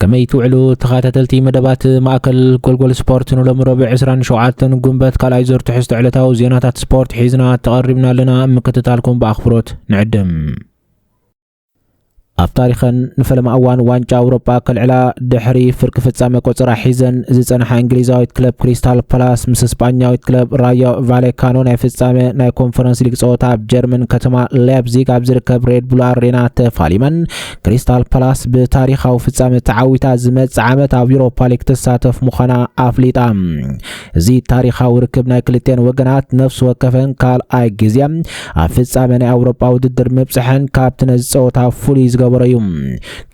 ከመይ ትውዕሉ ተኸታተልቲ መደባት ማእከል ጎልጎል ስፖርት ንሎሚ ረቡዕ 27 ጉንበት ካልኣይ ዙር ትሕዝቶ ዕለታዊ ዜናታት ስፖርት ሒዝና ተቐሪብና ኣለና ምክትታልኩም ብኣኽብሮት ንዕድም ኣብ ታሪኸን ንፈለማ እዋን ዋንጫ ኣውሮጳ ከልዕላ ድሕሪ ፍርቂ ፍጻመ ቆጸራ ሒዘን ዝጸንሓ እንግሊዛዊት ክለብ ክሪስታል ፓላስ ምስ ስጳኛዊት ክለብ ራዮ ቫሌካኖ ናይ ፍጻመ ናይ ኮንፈረንስ ሊግ ጸወታ ኣብ ጀርመን ከተማ ላይፕዚግ ኣብ ዝርከብ ሬድ ቡል ኣሬና ተፋሊመን ክሪስታል ፓላስ ብታሪኻዊ ፍጻመ ተዓዊታ ዝመጽእ ዓመት ኣብ ዩሮፓ ሊግ ትሳተፍ ምዃና ኣፍሊጣ እዚ ታሪኻዊ ርክብ ናይ ክልቴን ወገናት ነፍሲ ወከፈን ካልኣይ ግዜ ኣብ ፍጻመ ናይ ኣውሮፓ ውድድር ምብጽሐን ካብቲ ነዚ ጸወታ ፍሉይ ዝገበሮ እዩ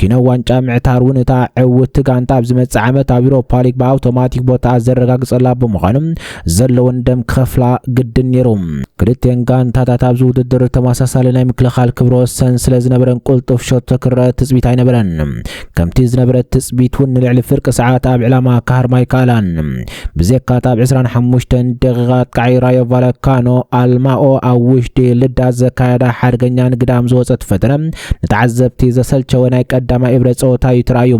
ኪኖ ዋንጫ ምዕታር እውን እታ ዕውቲ ጋንታ ኣብ ዝመጽእ ዓመት ኣብ ዩሮፓ ሊግ ብኣውቶማቲክ ቦታኣ ዘረጋግጸላ ብምዃኑ ዘለወን ደም ክኸፍላ ግድን ነይሩ። ክልቲኤን ጋንታታት ኣብዚ ውድድር ተመሳሳሊ ናይ ምክልኻል ክብረ ወሰን ስለ ዝነበረን ቁልጡፍ ሸቶ ክረኣ ትጽቢት ኣይነበረን። ከምቲ ዝነበረ ትጽቢት እውን ንልዕሊ ፍርቂ ሰዓት ኣብ ዕላማ ክሃርማ ኣይከኣላን። ብዜካ እታ ኣብ ዕስራን ሓሙሽተን ደቂቓ ኣጥቃዓይ ራዮ ቫለካኖ ኣልማኦ ኣብ ውሽጢ ልዳ ዘካየዳ ሓደገኛን ግዳም ዝወጸት ፈተነ ንተዓዘብቲ ዘሰልቸወ ናይ ቀዳማይ እብረ ጸወታ እዩ ተራእዩ።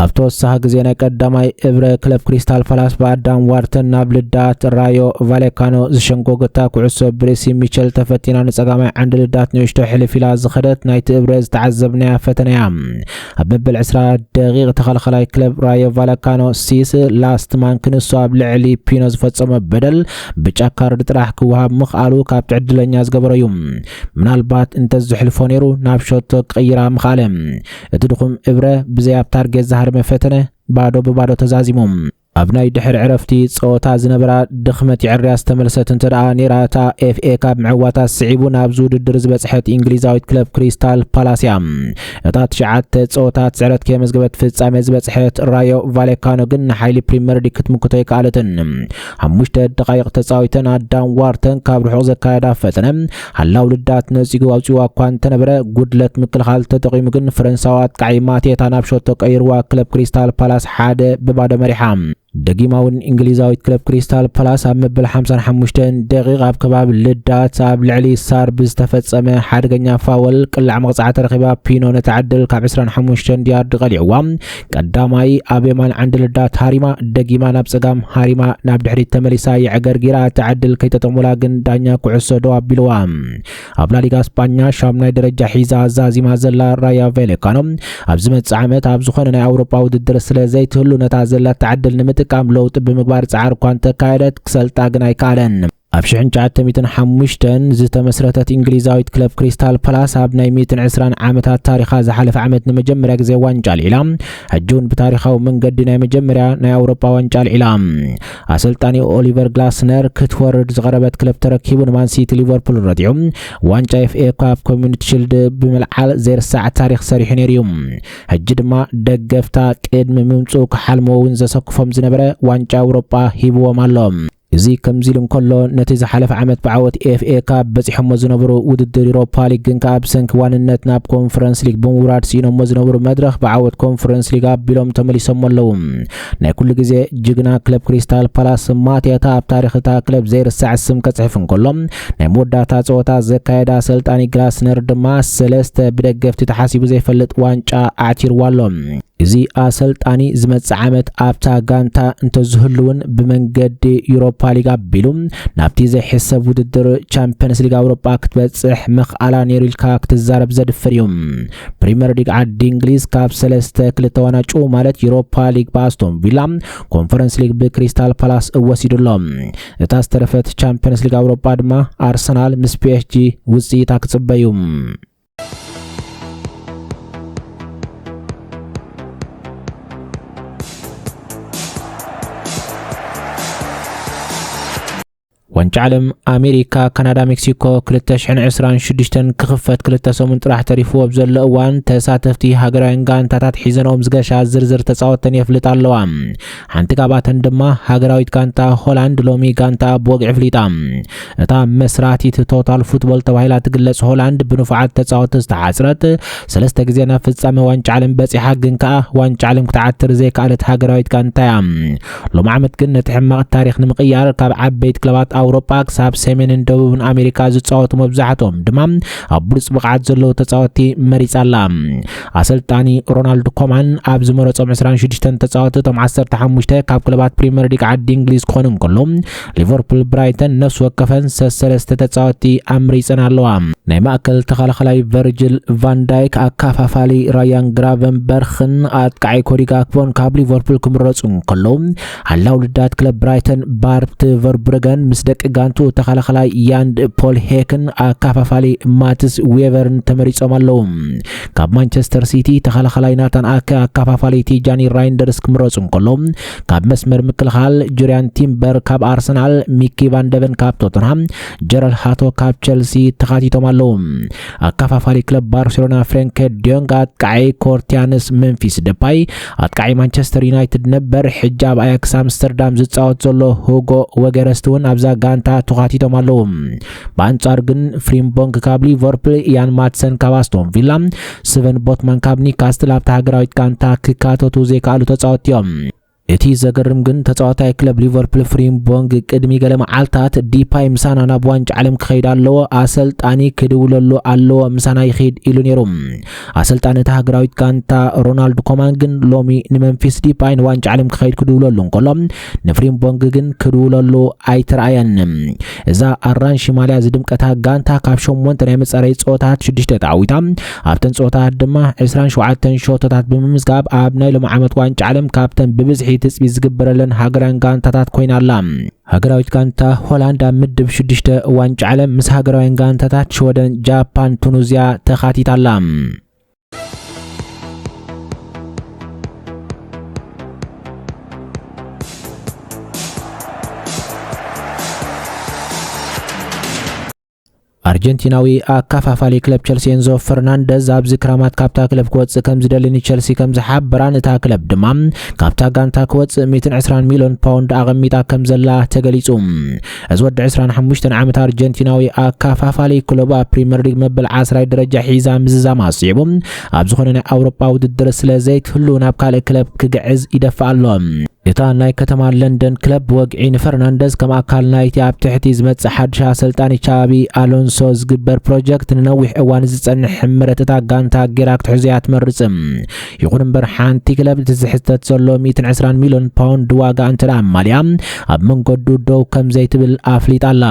ኣብ ተወሳኺ ግዜ ናይ ቀዳማይ እብረ ክለብ ክሪስታል ፓላስ ብኣዳም ዋርተን ናብ ልዳት ራዮ ቫሌካኖ ዝሸንጎገታ ኩዕሶ ብርእሲ ሚቸል ተፈቲና ንጸጋማይ ዓንዲ ልዳት ንእሽቶ ሕልፍ ኢላ ዝኸደት ናይቲ እብረ ዝተዓዘብናያ ፈተነ እያ። ኣብ መበል ዕስራ ደቒቕ ተኸልኸላይ ክለብ ራዮ ቫሌካኖ ሲስ ላስትማን ክንሱ ኣብ ልዕሊ ፒኖ ዝፈጸሞ በደል ብጫ ካርድ ጥራሕ ክወሃብ ምኽኣሉ ካብቲ ዕድለኛ ዝገበሮ እዩ። ምናልባት እንተ ዝሕልፎ ነይሩ ናብ ሸቶ ክቕይራ ምኽኣለ። እቲ ድኹም እብረ ብዘይ ኣብ ታርጌት ዝሃረመ ፈተነ ባዶ ብባዶ ተዛዚሙ። ኣብ ናይ ድሕሪ ዕረፍቲ ጸወታ ዝነበራ ድኽመት የዐርያ ዝተመልሰት እንተደኣ ነይራ እታ ኤፍኤ ካብ ምዕዋታ ስዒቡ ናብዚ ውድድር ዝበጽሐት ኢንግሊዛዊት ክለብ ክሪስታል ፓላስ እያ። እታ ትሽዓተ ጸወታት ስዕረት ከየመዝገበት ፍጻሜ ዝበጽሐት ራዮ ቫሌካኖ ግን ንሓይሊ ፕሪመር ሊግ ክትምክቶ ኣይከኣለትን። ሓሙሽተ ደቓይቕ ተጻዊተን ኣዳም ዋርተን ካብ ርሑቕ ዘካየዳ ፈተነ ሃላው ልዳት ነጺጉ ኣውጺዋ እኳ እንተነበረ ጉድለት ምክልኻል ተጠቒሙ ግን ፈረንሳዊ ኣጥቃዒ ማቴታ ናብ ሸቶ ቀይርዋ ክለብ ክሪስታል ፓላስ ሓደ ብባዶ መሪሓ ደጊማ እውን እንግሊዛዊት ክለብ ክሪስታል ፓላስ ኣብ መበል 55 ደቂቕ ኣብ ከባቢ ልዳት ኣብ ልዕሊ ሳር ብዝተፈጸመ ሓደገኛ ፋወል ቅላዕ መቕጻዕቲ ረኺባ ፒኖ ነቲ ዕድል ካብ 25 ያርድ ቀሊዕዋ ቀዳማይ ኣብ የማን ዓንዲ ልዳት ሃሪማ ደጊማ ናብ ጸጋም ሃሪማ ናብ ድሕሪት ተመሊሳ የዕገርጊራ እቲ ዕድል ከይተጠሙላ ግን ዳኛ ኩዕሶ ደው ኣቢልዋ ኣብ ላሊጋ ስጳኛ ሻምናይ ደረጃ ሒዛ ዛዚማ ዘላ ራያ ቬሌካኖ ኣብ ዝመጽእ ዓመት ኣብ ዝኾነ ናይ ኣውሮጳ ውድድር ስለ ዘይትህሉ ነታ ዘላታ ዕድል ንምጥቃም ለውጢ ብምግባር ጻዕሪ እኳ እንተካየደት ክሰልጣ ግን ኣይከኣለን ኣብ ሽሕን ትሽዓተ ሚእትን ሓሙሽተን ዝተመስረተት ኢንግሊዛዊት ክለብ ክሪስታል ፓላስ ኣብ ናይ ሚእትን ዕስራን ዓመታት ታሪኻ ዝሓለፈ ዓመት ንመጀመርያ ግዜ ዋንጫ ኣልዒላ ሕጂ እውን ብታሪኻዊ መንገዲ ናይ መጀመርያ ናይ ኣውሮጳ ዋንጫ ኣልዒላ ኣሰልጣኒ ኦሊቨር ግላስነር ክትወርድ ዝቐረበት ክለብ ተረኪቡ ንማንሲቲ ሊቨርፑል ረቲዑ ዋንጫ ኤፍኤ ካብ ኮሚኒቲ ሽልድ ብምልዓል ዘይርሳዕ ታሪክ ሰሪሑ ነይሩ እዩ ሕጂ ድማ ደገፍታ ቅድሚ ምምፅኡ ክሓልሞ እውን ዘሰክፎም ዝነበረ ዋንጫ ኣውሮጳ ሂብዎም ኣሎ እዚ ከምዚ ኢሉ እንከሎ፣ ነቲ ዝሓለፈ ዓመት ብዓወት ኤፍኤ ካብ በጺሖሞ ዝነበሩ ውድድር ዩሮፓ ሊግ ግን ከኣ ብሰንኪ ዋንነት ናብ ኮንፈረንስ ሊግ ብምውራድ ስኢኖሞ ዝነበሩ መድረኽ ብዓወት ኮንፈረንስ ሊግ ኣቢሎም ተመሊሶሞ ኣለዉ። ናይ ኩሉ ግዜ ጅግና ክለብ ክሪስታል ፓላስ ስም ማቴታ ኣብ ታሪኽ እታ ክለብ ዘይርሳዕ ስም ከጽሕፍ እንከሎ ናይ መወዳእታ ጸወታ ዘካየደ ኣሰልጣኒ ግላስነር ድማ ሰለስተ ብደገፍቲ ተሓሲቡ ዘይፈልጥ ዋንጫ ኣዕቲርዋ ኣሎ። እዚ ኣሰልጣኒ ዝመጽእ ዓመት ኣብታ ጋንታ እንተዝህልውን ብመንገዲ ዩሮፓ ሊግ ኣቢሉ ናብቲ ዘይሕሰብ ውድድር ቻምፒየንስ ሊግ ኣውሮጳ ክትበጽሕ ምኽኣላ ነይሩ ኢልካ ክትዛረብ ዘድፍር እዩ። ፕሪምየር ሊግ ዓዲ እንግሊዝ ካብ ሰለስተ ክልተ ዋናጩ ማለት ዩሮፓ ሊግ ብኣስቶን ቪላ፣ ኮንፈረንስ ሊግ ብክሪስታል ፓላስ እወሲዱ ኣሎ። እታ ዝተረፈት ቻምፒዮንስ ሊግ ኣውሮጳ ድማ ኣርሰናል ምስ ፒኤስጂ ውጽኢታ ክጽበዩ ዋንጫ ዓለም ኣሜሪካ ካናዳ ሜክሲኮ 226 ክኽፈት ክልተ ሰሙን ጥራሕ ተሪፉ ኣብ ዘሎ እዋን ተሳተፍቲ ሃገራውያን ጋንታታት ሒዘንኦም ዝገሻ ዝርዝር ተፃወተን የፍልጣ ኣለዋ ሓንቲ ካብኣተን ድማ ሃገራዊት ጋንታ ሆላንድ ሎሚ ጋንታ ብወግዒ ኣፍሊጣ። እታ መስራቲት ቶታል ፉትቦል ተባሂላ ትግለጽ ሆላንድ ብንፉዓት ተጻወቲ ዝተሓጽረት ሰለስተ ግዜ ናብ ፍጻመ ዋንጫ ዓለም በጺሓ ግን ከኣ ዋንጫ ዓለም ክትዓትር ዘይከኣለት ሃገራዊት ጋንታ እያ። ሎሚ ዓመት ግን ነቲ ሕማቕ ታሪኽ ንምቕያር ካብ ዓበይቲ ክለባት ኣውሮጳ ክሳብ ሰሜንን ደቡብን ኣሜሪካ ዝጻወቱ መብዛሕትኦም ድማ ኣብ ብሉጽ ብቕዓት ዘለዉ ተጻወቲ መሪጻ ኣላ። ኣሰልጣኒ ሮናልድ ኮማን ኣብ ዝመረጾም 26 ተጻወቲ እቶም 15 ካብ ክለባት ፕሪምየር ሊግ ዓዲ እንግሊዝ ክኾኑ እንከሎ ሊቨርፑል ብራይተን ነፍሲ ወከፈን ሰሰለስተ ተጻወቲ ኣምሪጸን ኣለዋ። ናይ ማእከል ተኸላኸላይ ቨርጅል ቫንዳይክ፣ ኣካፋፋሊ ራያን ግራቨንበርኽን ኣጥቃዓይ ኮዲ ጋክፖን ካብ ሊቨርፑል ክምረጹ እንከሎ ሓላው ልዳት ክለብ ብራይተን ባርት ቨርብረገን ምስ ደቂ ጋንቱ ተኸላኸላይ ያንድ ፖል ሄክን ኣካፋፋሊ ማትስ ዌቨርን ተመሪጾም ኣለዉ። ካብ ማንቸስተር ሲቲ ተኸላኸላይ ናታን ኣከ ኣካፋፋሊ ቲጃኒ ራይንደርስ ክምረጹ እንከሎ ካብ መስመር ምክልኻል ጁሪያን ቲምበር ካብ ኣርሰናል፣ ሚኪ ቫንደቨን ካብ ቶተንሃም፣ ጀረል ሃቶ ካብ ቸልሲ ተኻቲቶም ኣለዉ። ኣካፋፋሊ ክለብ ባርሴሎና ፍሬንከ ዲዮንግ፣ ኣጥቃዓይ ኮርቲያንስ፣ መንፊስ ደፓይ፣ ኣጥቃዓይ ማንቸስተር ዩናይትድ ነበር ሕጂ ኣብ ኣያክስ ኣምስተርዳም ዝጻወት ዘሎ ሁጎ ወገረስት እውን ኣብዛ ጋንታ ተዃቲቶም ኣለዉ። ብኣንጻሩ ግን ፍሪምቦንግ ካብ ሊቨርፑል፣ ኢያን ማትሰን ካብ ኣስቶን ቪላ፣ ስቨን ቦትማን ካብ ኒካስትል ኣብታ ሃገራዊት ጋንታ ክካተቱ ዘይከኣሉ ተጻወትቲ እዮም። እቲ ዘገርም ግን ተጻዋታይ ክለብ ሊቨርፑል ፍሪምቦንግ ቅድሚ ገለ መዓልታት ዲፓይ ምሳና ናብ ዋንጫ ዓለም ክኸይድ ኣለዎ፣ ኣሰልጣኒ ክድውለሉ ኣለዎ፣ ምሳና ይኺድ ኢሉ ነይሩ። ኣሰልጣኒ እታ ሃገራዊት ጋንታ ሮናልድ ኮማን ግን ሎሚ ንመንፊስ ዲፓይ ንዋንጫ ዓለም ክኸይድ ክድውለሉ እንከሎ ንፍሪምቦንግ ግን ክድውለሉ ኣይተረኣየን እዛ ኣራንሺ ማልያ ዝድምቀታ ጋንታ ካብ ሸሞንተ ናይ መፃረይ ፀወታት ሽዱሽተ ተዓዊታ ኣብተን ፀወታት ድማ 27 ሸቶታት ብምምዝጋብ ኣብ ናይ ሎሚ ዓመት ዋንጫ ዓለም ካብተን ብብዝሒ ትፅቢት ዝግበረለን ሃገራውያን ጋንታታት ኮይና ኣላ ሃገራዊት ጋንታ ሆላንድ ኣብ ምድብ ሽዱሽተ ዋንጫ ዓለም ምስ ሃገራውያን ጋንታታት ሽወደን፣ ጃፓን፣ ቱኑዝያ ተኻቲታ ኣላ። ኣርጀንቲናዊ ኣካፋፋሊ ክለብ ቸልሲ ኤንዞ ፈርናንደዝ ኣብዚ ክራማት ካብታ ክለብ ክወጽእ ከም ዝደሊ ንቸልሲ ከም ዝሓበራን እታ ክለብ ድማ ካብታ ጋንታ ክወጽእ 120 ሚልዮን ፓውንድ ኣቐሚጣ ከም ዘላ ተገሊጹ። እዚ ወዲ 25 ዓመት ኣርጀንቲናዊ ኣካፋፋሊ ክለብ ኣብ ፕሪምየር ሊግ መበል ዓስራይ ደረጃ ሒዛ ምዝዛም ኣስዒቡ ኣብ ዝኾነ ናይ ኣውሮጳ ውድድር ስለ ዘይክህሉ ናብ ካልእ ክለብ ክግዕዝ ይደፍእ ኣሎ። እታ ናይ ከተማ ለንደን ክለብ ብወግዒ ንፈርናንደዝ ከም ኣካል ናይቲ ኣብ ትሕቲ ዝመጽእ ሓድሽ ኣሰልጣኒ ቻቢ ኣሎንሶ ዝግበር ፕሮጀክት ንነዊሕ እዋን ዝጸንሕ ሕምረት እታ ጋንታ ጌራ ክትሕዞ እያ ትመርጽ። ይኹን እምበር ሓንቲ ክለብ እቲ ዝሕተት ዘሎ ሚእትን ዕስራን ሚልዮን ፓውንድ ዋጋ እንተደኣ ኣማሊኣ ኣብ መንገዱ ደው ከም ዘይትብል ኣፍሊጣ ኣላ።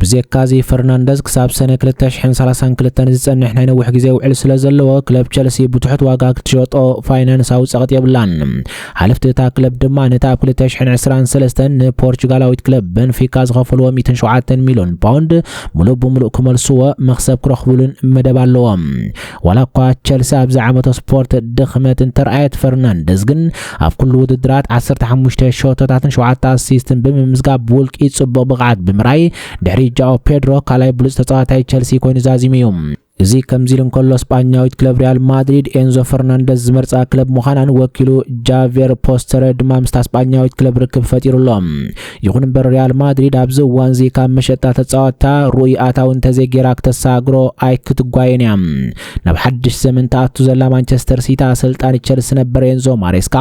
ብዜካዚ ፈርናንደዝ ክሳብ ሰነ ክልተ ሽሕን ሰላሳን ክልተን ዝጸንሕ ናይ ነዊሕ ግዜ ውዕል ስለ ዘለዎ፣ ክለብ ቸልሲ ብትሑት ዋጋ ክትሸጦ ፋይናንሳዊ ጸቕጢ የብላን። ሓለፍቲ እታ ክለብ ድማ ነቲ ኣብ ክልተ ሽሕን ዕስራን ሰለስተን ንፖርቹጋላዊት ክለብ በንፊካ ዝኸፈልዎ ሚእትን ሸውዓተን ሚልዮን ፓውንድ ምሉእ ብምሉእ ክመልስዎ መኽሰብ ክረኽቡሉን መደብ ኣለዎም። ዋላ እኳ ቸልሲ ኣብዚ ዓመተ ስፖርት ድኽመት እንተርኣየት ፈርናንደዝ ግን ኣብ ኩሉ ውድድራት 15 ሸቶታትን 7 ኣሲስትን ብምምዝጋብ ብውልቂ ጽቡቕ ብቕዓት ብምራይ ድሕሪ ጃኦ ፔድሮ ካልኣይ ብሉጽ ተጻዋታይ ቸልሲ ኮይኑ ዛዚሙ እዩ። እዚ ከምዚ ኢሉ እንከሎ ስጳኛዊት ክለብ ሪያል ማድሪድ ኤንዞ ፈርናንደዝ ዝመርጻ ክለብ ምዃናን ወኪሉ ጃቬር ፖስተረ ድማ ምስታ ስጳኛዊት ክለብ ርክብ ፈጢሩ ኣሎ። ይኹን እምበር ሪያል ማድሪድ ኣብዚ እዋንዚ ካብ መሸጣ ተጻወትታ ርኡይ ኣታዊ እንተዘይጌራ ክተሰጋግሮ ኣይክትጓየን እያ ናብ ሓድሽ ዘመን ተኣቱ ዘላ ማንቸስተር ሲቲ ኣሰልጣኒ ቸልሲ ነበር ኤንዞ ማሬስካ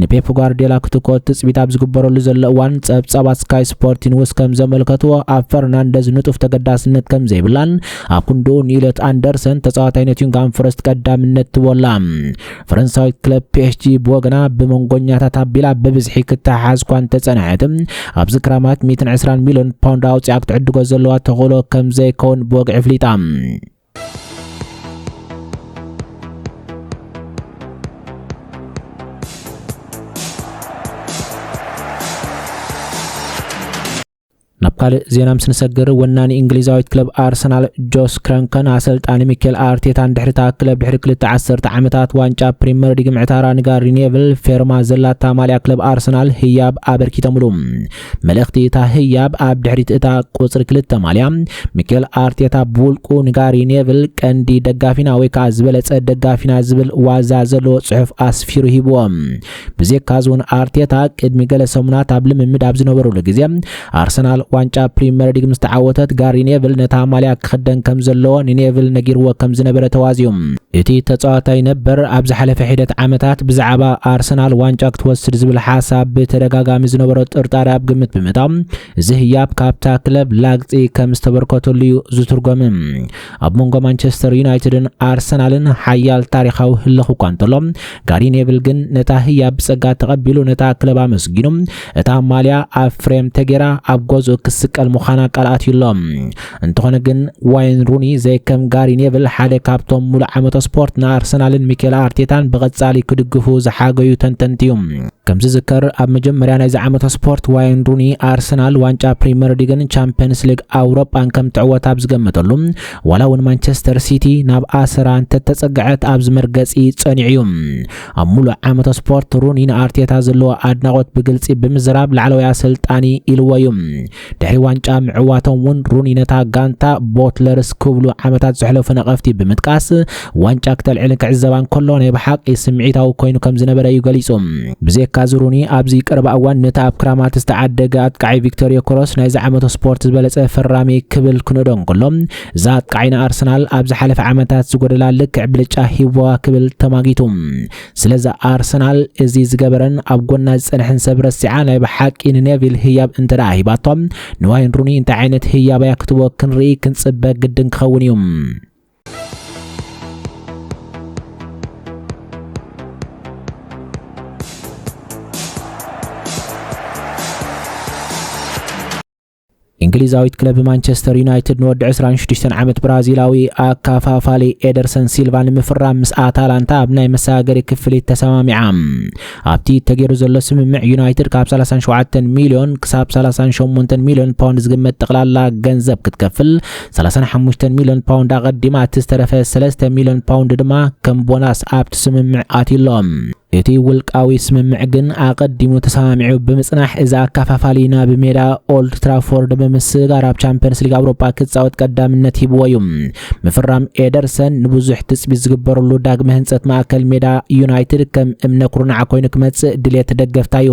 ንፔፕ ጓርዲዮላ ክትኮት ትጽቢት ኣብ ዝግበረሉ ዘሎ እዋን ጸብጻባት ስካይ ስፖርት ኒውስ ከም ዘመልከትዎ ኣብ ፈርናንደዝ ንጡፍ ተገዳስነት ከም ዘይብላን ኣብ ክንድኡ ንኢሎት ኣንደርሰን ተጻዋታይ ኖቲንግሃም ፎረስት ቀዳምነት ትቦላ ፈረንሳዊት ክለብ ፒኤስጂ ብወገና ብመንጎኛታት ኣቢላ ብብዝሒ ክትሓሓዝ እኳ እንተጸንሐት ኣብዚ ክራማት 120 ሚልዮን ፓውንድ ኣውፂኣ ክትዕድጎ ዘለዋ ተኽእሎ ከም ዘይከውን ብወግዒ ኣፍሊጣ ናብ ካልእ ዜና ምስ ንሰግር ወናኒ እንግሊዛዊት ክለብ ኣርሰናል ጆስ ክረንከን ኣሰልጣኒ ሚኬል ኣርቴታን ድሕሪ እታ ክለብ ድሕሪ ክልተ ዓሰርተ ዓመታት ዋንጫ ፕሪምየር ሊግ ምዕታራ ንጋሪ ኔቭል ፌርማ ዘላታ ማልያ ክለብ ኣርሰናል ህያብ ኣበርኪተምሉ መልእኽቲ እታ ህያብ ኣብ ድሕሪት እታ ቁፅሪ ክልተ ማልያ ሚኬል ኣርቴታ ብውልቁ ንጋሪ ኔቭል ቀንዲ ደጋፊና ወይ ከዓ ዝበለፀ ደጋፊና ዝብል ዋዛ ዘለዎ ፅሑፍ ኣስፊሩ ሂብዎም ብዜካ ዞን ኣርቴታ ቅድሚ ገለ ሰሙናት ኣብ ልምምድ ኣብ ዝነበሩሉ ግዜ ኣርሰናል ዋንጫ ፕሪምየር ሊግ ምስ ተዓወተት ጋሪ ኔቭል ነታ ማልያ ክኽደን ከም ዘለዎ ንኔቭል ነጊርዎ ከም ዝነበረ ተዋዝዩ። እቲ ተጻዋታይ ነበር ኣብ ዝሓለፈ ሒደት ዓመታት ብዛዕባ ኣርሰናል ዋንጫ ክትወስድ ዝብል ሓሳብ ብተደጋጋሚ ዝነበሮ ጥርጣረ ኣብ ግምት ብምእታው እዚ ህያብ ካብታ ክለብ ላግጺ ከም ዝተበርከተሉ እዩ ዝትርጎም። ኣብ መንጎ ማንቸስተር ዩናይትድን ኣርሰናልን ሓያል ታሪኻዊ ህልኽ እኳ እንተሎ ጋሪ ኔቭል ግን ነታ ህያብ ብጸጋ ተቐቢሉ ነታ ክለብ ኣመስጊኑ እታ ማልያ ኣብ ፍሬም ተጌራ ኣብ ገዝኡ ክስቀል ምዃና ቃል ኣትዩ ኣሎ። እንተኾነ ግን ዋይን ሩኒ ዘይከም ጋሪ ኔቭል ሓደ ካብቶም ሙሉእ ዓመተ ስፖርት ንኣርሰናልን ሚኬል ኣርቴታን ብቐጻሊ ክድግፉ ዝሓገዩ ተንተንቲ እዩ። ከም ዝዝከር ኣብ መጀመርያ ናይዚ ዓመተ ስፖርት ዋይን ሩኒ ኣርሰናል ዋንጫ ፕሪምየር ሊግን ቻምፕየንስ ሊግ ኣውሮጳን ከም ትዕወት ኣብ ዝገመተሉ ዋላ እውን ማንቸስተር ሲቲ ናብ ኣሰራ እንተተጸግዐት ኣብዚ መርገጺ ጸኒዑ እዩ ኣብ ሙሉእ ዓመተ ስፖርት ሩኒ ንኣርቴታ ዘለዎ ኣድናቖት ብግልጺ ብምዝራብ ላዕለዋይ ኣሰልጣኒ ኢልዎ እዩ ድሕሪ ዋንጫ ምዕዋቶም እውን ሩኒ ነታ ጋንታ ቦትለርስ ክብሉ ዓመታት ዘሕለፉ ነቐፍቲ ብምጥቃስ ዋንጫ ክተልዕልን ክዕዘባን ከሎ ናይ ብሓቂ ስምዒታዊ ኮይኑ ከም ዝነበረ እዩ ገሊጹ። ብዘይካ እዚ ሩኒ ኣብዚ ቀረባ እዋን ነቲ ኣብ ክራማት ዝተዓደገ ኣጥቃዒ ቪክቶር ዮከረስ ናይ ዝዓመቱ ስፖርት ዝበለጸ ፈራሚ ክብል ክንእዶ እንከሎ እዛ ኣጥቃዒ ንኣርሰናል ኣብ ዝሓለፈ ዓመታት ዝጎደላ ልክዕ ብልጫ ሂቡዋ ክብል ተማጊቱ። ስለዚ ኣርሰናል እዚ ዝገበረን ኣብ ጎና ዝጸንሐን ሰብ ረሲዓ ናይ ብሓቂ ንኔቪል ህያብ እንተ ደኣ ሂባቶ ንዋይን ሩኒ እንታይ ዓይነት ህያብ እያ ክትቦ ክንርኢ ክንጽበ ግድን ክኸውን እዩ። እንግሊዛዊት ክለብ ማንቸስተር ዩናይትድ ንወዲ 26 ዓመት ብራዚላዊ ኣካፋፋሊ ኤደርሰን ሲልቫ ንምፍራም ምስ ኣታላንታ ኣብ ናይ መሰጋገሪ ክፍሊት ተሰማሚዓ ኣብቲ ተገይሩ ዘሎ ስምምዕ ዩናይትድ ካብ 37 ሚልዮን ክሳብ 38 ሚልዮን ፓውንድ ዝግመት ጠቕላላ ገንዘብ ክትከፍል 35 ሚልዮን ፓውንድ ኣቐዲማ እቲ ዝተረፈ 3 ሚልዮን ፓውንድ ድማ ከም ቦናስ ኣብቲ ስምምዕ ኣትሎም እቲ ውልቃዊ ስምምዕ ግን ኣቐዲሙ ተሰማሚዑ ብምጽናሕ እዚ ኣካፋፋሊ ናብ ሜዳ ኦልድ ትራፎርድ ብምስጋር ኣብ ቻምፒየንስ ሊግ ኣውሮጳ ክጻወት ቀዳምነት ሂብዎ እዩ። ምፍራም ኤደርሰን ንብዙሕ ትጽቢት ዝግበረሉ ዳግመ ህንጸት ማእከል ሜዳ ዩናይትድ ከም እምነ ኩርናዕ ኮይኑ ክመጽእ ድሌት ደገፍታ እዩ።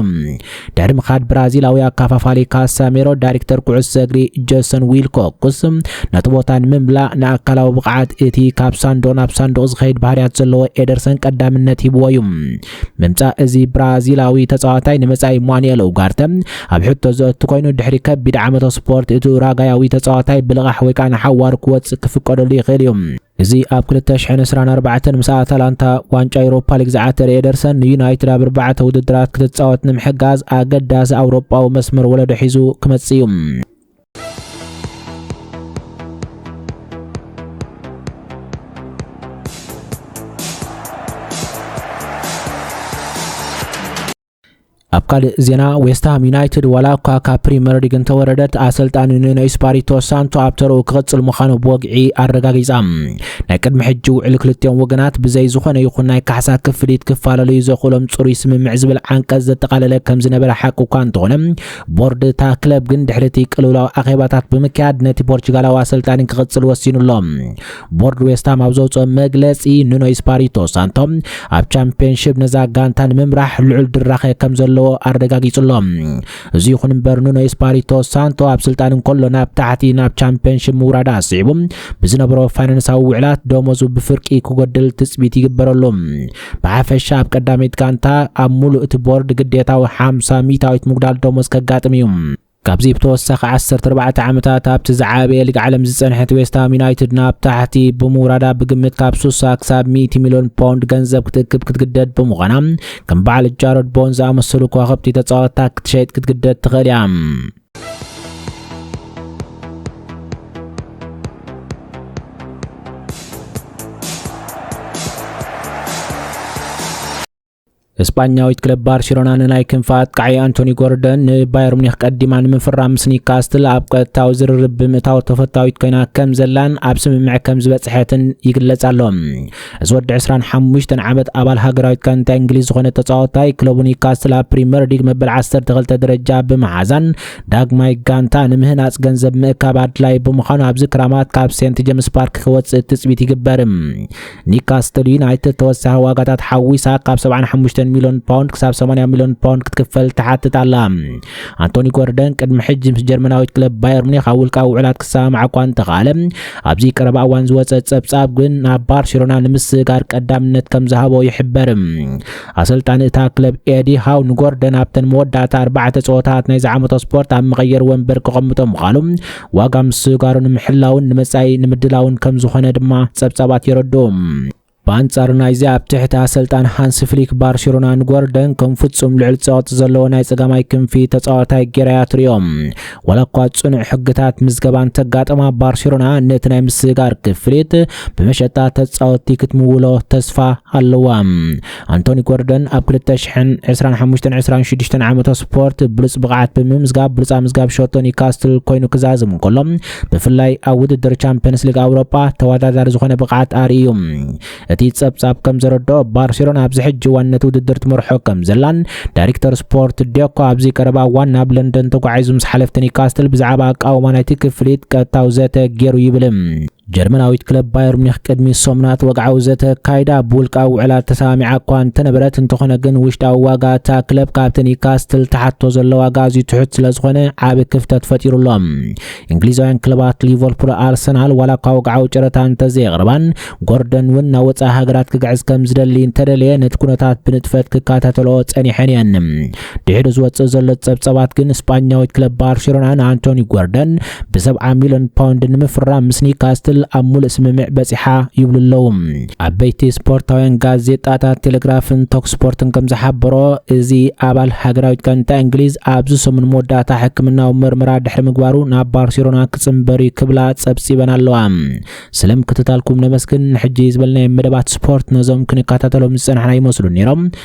ድሕሪ ምኻድ ብራዚላዊ ኣካፋፋሊ ካሳሜሮ ዳይሬክተር ኩዕሶ እግሪ ጀሰን ዊልኮክስ ነቲ ቦታ ንምምላእ ንኣካላዊ ብቕዓት እቲ ካብ ሳንዱቕ ናብ ሳንዱቕ ዝኸይድ ባህርያት ዘለዎ ኤደርሰን ቀዳምነት ሂብዎ እዩ ምምፃእ እዚ ብራዚላዊ ተፃዋታይ ንመፃኢ ማኑኤል ኡጋርተ ኣብ ሕቶ ዘእቱ ኮይኑ ድሕሪ ከቢድ ዓመተ ስፖርት እቲ ኡራጋያዊ ተፃዋታይ ብልቓሕ ወይ ከዓ ንሓዋሩ ክወፅእ ክፍቀደሉ ይኽእል እዩ እዚ ኣብ ክልተ ሽሕን ዕስራን ኣርባዕተን ምስ ኣታላንታ ዋንጫ ኤውሮፓ ሊግ ዝዓተረ ኤደርሰን ንዩናይትድ ኣብ ኣርባዕተ ውድድራት ክትጻወት ንምሕጋዝ ኣገዳሲ ኣውሮጳዊ መስመር ወለዶ ሒዙ ክመጽእ እዩ። ኣብ ካልእ ዜና ዌስትሃም ዩናይትድ ዋላ እኳ ካብ ፕሪምየር ሊግ እንተወረደት ኣሰልጣኒ ኑኖ ኢስፓሪቶ ሳንቶ ኣብ ተረኡ ክቕጽል ምዃኑ ብወግዒ ኣረጋጊጻ ናይ ቅድሚ ሕጂ ውዕል ክልቲኦም ወገናት ብዘይ ዝኾነ ይኹን ናይ ካሕሳ ክፍሊት ክፋለለዩ ዘኽእሎም ጽሩይ ስምምዕ ዝብል ዓንቀጽ ዘጠቓለለ ከም ዝነበረ ሓቂ እኳ እንተኾነ ቦርድ እታ ክለብ ግን ድሕሪ እቲ ቅልውላው ኣኼባታት ብምክያድ ነቲ ፖርቹጋላዊ ኣሰልጣኒ ክቕጽል ወሲኑ ኣሎ ቦርድ ዌስትሃም ኣብ ዘውፅኦ መግለፂ ኑኖ ኢስፓሪቶ ሳንቶ ኣብ ቻምፒዮንሽፕ ነዛ ጋንታ ንምምራሕ ልዑል ድራኸ ከም ዘለዎ ኣረጋጊጹ ኣሎ። እዚ ይኹን እምበር ኑኖ ኢስፓሪቶ ሳንቶ ኣብ ስልጣን እንከሎ ናብ ታሕቲ ናብ ቻምፒዮንሽፕ ምውራድ ኣስዒቡ ብዝነበሮ ፋይናንሳዊ ውዕላት ደሞዙ ብፍርቂ ክጎድል ትጽቢት ይግበረሉ። ብሓፈሻ ኣብ ቀዳመይቲ ጋንታ ኣብ ሙሉእ እቲ ቦርድ ግዴታዊ ሓምሳ ሚእታዊት ምጉዳል ደሞዝ ከጋጥም እዩ። ካብዚ ብተወሳኺ ዓሰርተ ኣርባዕተ ዓመታት ኣብቲ ዝዓበየ ሊግ ዓለም ዝጸንሐት ዌስትሃም ዩናይትድ ናብ ታሕቲ ብምውራዳ ብግምት ካብ ሱሳ ክሳብ ሚእቲ ሚልዮን ፓውንድ ገንዘብ ክትእክብ ክትግደድ ብምዃና ከም በዓል ጃሮድ ቦን ዝኣመሰሉ ከዋኽብቲ ተጻወታ ክትሸይጥ ክትግደድ ትኽእል እያ። እስጳኛዊት ክለብ ባርሴሎና ንናይ ክንፊ ኣጥቃዒ ኣንቶኒ ጎርደን ንባየር ሙኒክ ቀዲማ ንምፍራም ምስ ኒካስትል ኣብ ቀጥታዊ ዝርርብ ብምእታው ተፈታዊት ኮይና ከም ዘላን ኣብ ስምምዕ ከም ዝበፅሐትን ይግለጽ ኣሎ እዚ ወዲ 25 ዓመት ኣባል ሃገራዊት ጋንታ እንግሊዝ ዝኾነ ተፃወታይ ክለቡ ኒካስትል ኣብ ፕሪምየር ሊግ መበል 12 ደረጃ ብምሓዛን ዳግማይ ጋንታ ንምህናፅ ገንዘብ ምእካብ ኣድላይ ብምዃኑ ኣብዚ ክራማት ካብ ሴንት ጀምስ ፓርክ ክወፅእ ትፅቢት ይግበር ኒካስትል ዩናይትድ ተወሳኺ ዋጋታት ሓዊሳ ካብ 75 ሚሊዮን ፓውንድ ክሳብ 80 ሚሊዮን ፓውንድ ክትክፈል ትሓትት ኣላ ኣንቶኒ ጎርደን ቅድሚ ሕጂ ምስ ጀርመናዊት ክለብ ባየር ሙኒክ ኣብ ውልቃዊ ውዕላት ክሰማማዕ እኳ እንተኸኣለ ኣብዚ ቀረባ እዋን ዝወፀ ፀብፃብ ግን ናብ ባርሴሎና ንምስግጋር ቀዳምነት ከም ዝሃቦ ይሕበር ኣሰልጣኒ እታ ክለብ ኤዲ ሃው ንጎርደን ኣብተን መወዳእታ ኣርባዕተ ፀወታት ናይ ዝዓመቶ ስፖርት ኣብ መቐየሪ ወንበር ክቐምጦ ምዃኑ ዋጋ ምስግጋሩ ንምሕላውን ንመጻኢ ንምድላውን ከም ዝኾነ ድማ ጸብጻባት የረድኡ። ብኣንጻር ናይዚ ኣብ ትሕቲ ኣሰልጣን ሃንስ ፍሊክ ባርሴሎና ንጎርደን ከም ፍጹም ልዑል ጸቕጢ ዘለዎ ናይ ጸጋማይ ክንፊ ተጻዋታይ ጌራ እያ ትርእዮ። ዋላ እኳ ጽኑዕ ሕግታት ምዝገባ እንተጋጠማ ባርሴሎና ነቲ ናይ ምስግጋር ክፍሊት ብመሸጣ ተጻወትቲ ክትምውሎ ተስፋ ኣለዋ። ኣንቶኒ ጎርደን ኣብ 2025 26 ዓመቶ ስፖርት ብሉፅ ብቕዓት ብምምዝጋብ ብሉፅ ኣምዝጋብ ሸቶ ኒውካስትል ኮይኑ ክዛዝም እንከሎ ብፍላይ ኣብ ውድድር ቻምፒየንስ ሊግ ኣውሮጳ ተወዳዳሪ ዝኾነ ብቕዓት ኣርእዩ እቲ ጸብጻብ ከም ዘረድኦ ባርሴሎና ኣብዚ ሕጂ እዋን ነቲ ውድድር ትመርሖ ከም ዘላን ዳይሬክተር ስፖርት ዴኮ ኣብዚ ቀረባ እዋን ናብ ለንደን ተጓዒዙ ምስ ሓለፍቲ ኒካስትል ብዛዕባ ኣቃውማ ናይቲ ክፍሊት ቀጥታዊ ዘተ ገይሩ ይብል ጀርመናዊት ክለብ ባየር ሙኒክ ቅድሚ ሰሙናት ወግዓዊ ዘተ ኣካይዳ ብውልቃዊ ውዕላት ተሰማሚዓ እኳ እንተነበረት እንተኾነ ግን ውሽጣዊ ዋጋ እታ ክለብ ካብቲ ኒውካስትል ትሓቶ ዘሎ ዋጋ ኣዝዩ ትሑት ስለ ዝኾነ ዓቢ ክፍተት ፈጢሩሎም እንግሊዛውያን ክለባት ሊቨርፑል ኣርሰናል ዋላ እኳ ወግዓዊ ጨረታ እንተዘየቕርባን ጎርደን እውን ናብ ወፃኢ ሃገራት ክግዕዝ ከም ዝደሊ እንተደለየ ነቲ ኩነታት ብንጥፈት ክከታተልኦ ጸኒሐን እየን ድሕሪ ዝወጽእ ዘሎ ጸብጸባት ግን ስጳኛዊት ክለብ ባርሴሎና ንኣንቶኒ ጎርደን ብሰብዓ ሚልዮን ፓውንድ ንምፍራም ምስ ኒካስትል ኣብ ሙሉእ ስምምዕ በጺሓ ይብሉ ኣለዉ። ዓበይቲ ስፖርታውያን ጋዜጣታት ቴሌግራፍን ቶክ ስፖርትን ከም ዝሓበሮ እዚ ኣባል ሃገራዊት ጋንታ እንግሊዝ ኣብዚ ሰሙን መወዳእታ ሕክምናዊ ምርመራ ድሕሪ ምግባሩ ናብ ባርሴሎና ክጽንበር እዩ ክብላ ጸብጺበን ኣለዋ። ስለ ምክትታልኩም ነመስግን። ንሕጂ ዝበልናዮም መደባት ስፖርት ነዞም ክንከታተሎም ዝጸናሕና ይመስሉ ነይሮም።